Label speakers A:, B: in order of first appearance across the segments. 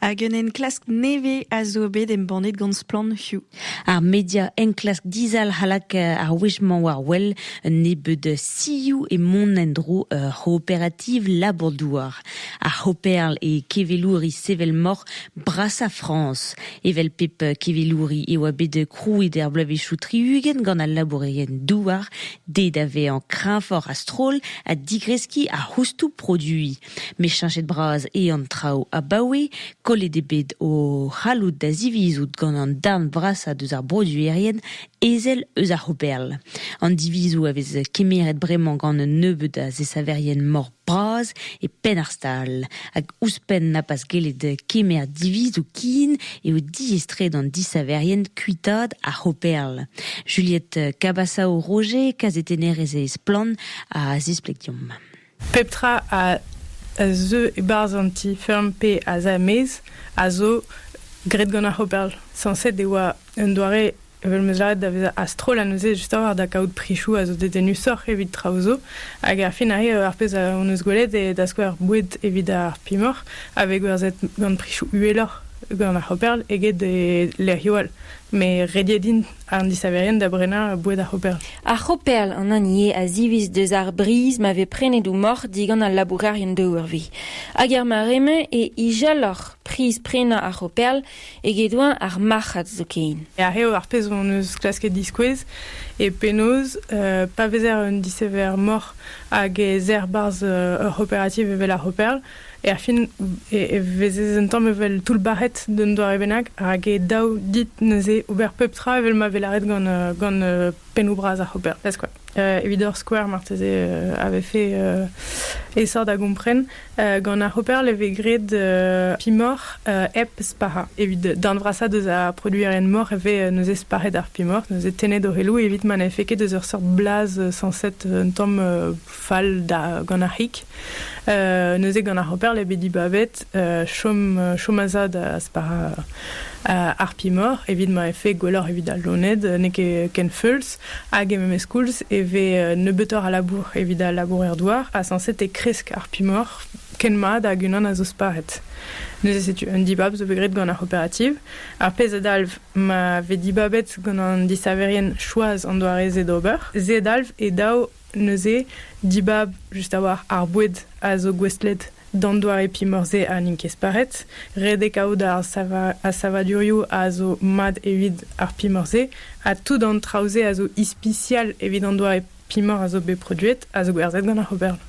A: Hag un enklask nevez a zo bet embannet gant Splann Hugh. Ar media
B: enklask dizalc'h alak ar wech-mañ war wel un nebeud sioù e mont en-dro ur c'hooperativ labour-douar. Ar c'hooperl e kevelouri sevel-moc'h brasañ Frañs. Evel pep kevelouri e oa bet krouet er bloavezhioù tri-ugent gant al labourerien-douar dezhe da vezañ kreñvoc'h a-stroll ha digreskiñ ar c'houstoù produiñ. Met cheñchet-bras eo an traoù abaoe. Kollet eo bet o c'halloud da zivizout gant an darn vrasañ deus ar broduerien ezel eus ar C'hooperl. An divizoù a vez kemeret bremañ gant un nebeud a zesaverien mor bras e penn ar stal. Hag ouzhpenn na pas gellet kemer divizoù kin eo diaes-tre d'an disaverien kuitaat ar C'hooperl. Juliette Cabasao-Roger, kazetennerez e Splann, a zispleg deomp. Pep tra
C: a zeu e-barzh an ti-feurm pe asamez a zo graet gant ar c'hooperl. Sañset e oa un doare evel m'eus lâret da vezañ a-stroll ha neuze just a-walc'h da kaout prichoù a zo dedennusoc'h evit traoù zo. Hag ar fin arrive ar pezh hon eus gwelet eo da skouer boued evit ar pimoc'h a vez gwerzhet gant prichoù uheloc'h gant ar c'hooperl eget e lec'hioù all. Met rediet int. An disaverien da brenañ boued ar c'hoperl. Ar c'hoperl, an
D: hini eo a ziviz deus ar briz ma vez prenet o moc'h digant al labourerien daouarvi. Hag er mare-mañ e ijalloc'h priz prenañ ar c'hoperl eget-eñ ar marc'had zoken. Ar eo ar pezh hon
C: eus klasket diskouez e penaos pa vezer un disaver moc'h hag ez er barzh ur c'hooperativ evel ar c'hoperl, Erfin e vezez un tamm evel toullbac'het d'un doare bennak, rak e daou dit neuze ober pep tra evel ma vez lâret gant, gant pennoù bras ar c'hooper. Ez kwa. evit ur skouer marteze a vefe aesoc'h da gompren. gant ar c'hooper e vez graet pimoc'h hep spac'hañ. Evit darn vrasañ deus ar produerien-mor e vez neuze spac'het ar pimoc'h, neuze tennet o c'heloù evit ma n'efe ket eus ur seurt blaz sañset un tamm fall da gant ar c'hig. Euh, neuze gant ar hoper le bedi bavet euh, chom euh, chomaza da spara euh, arpimor evit ma efe gwelloc'h evit al loned n'e ket ken feuls hag e memes koulz e ve euh, nebeutoc'h a labour evit al labour er douar ha sañset e kresk arpimor ken mat hag unan a zo sparet. Neuze setu un dibab zo bet graet gant ar operativ. Ar pezh a dalv ma ve dibabet gant an disaverien choaz an doare-se d'ober. Se dalv e dav Neuze, dibab just a-walc'h ar boued a zo gouestlet d'an doare pimor-se ha n'int ket sparet. Ret eo kaout ar savadurioù a zo mat evit ar pimor-se ha tout an traoù-se a zo ispisial evit an doare pimor a zo bet produet a zo gwerzhet gant ar ober.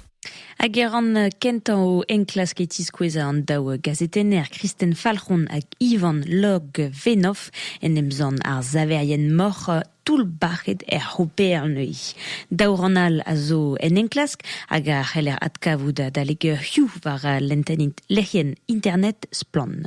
C: Hag e ran
B: kentañ o enklask e tiskouez an daou gazetenner Kristen Falc'hon hag Ivan Log-Venoff en em zann ar saverien moc'h toull-bac'het er C'hooper neuze. Daou rann all a zo en enklask hag a c'heller adkavout adalek eurioù war lenntenn lec'hienn internet Splann.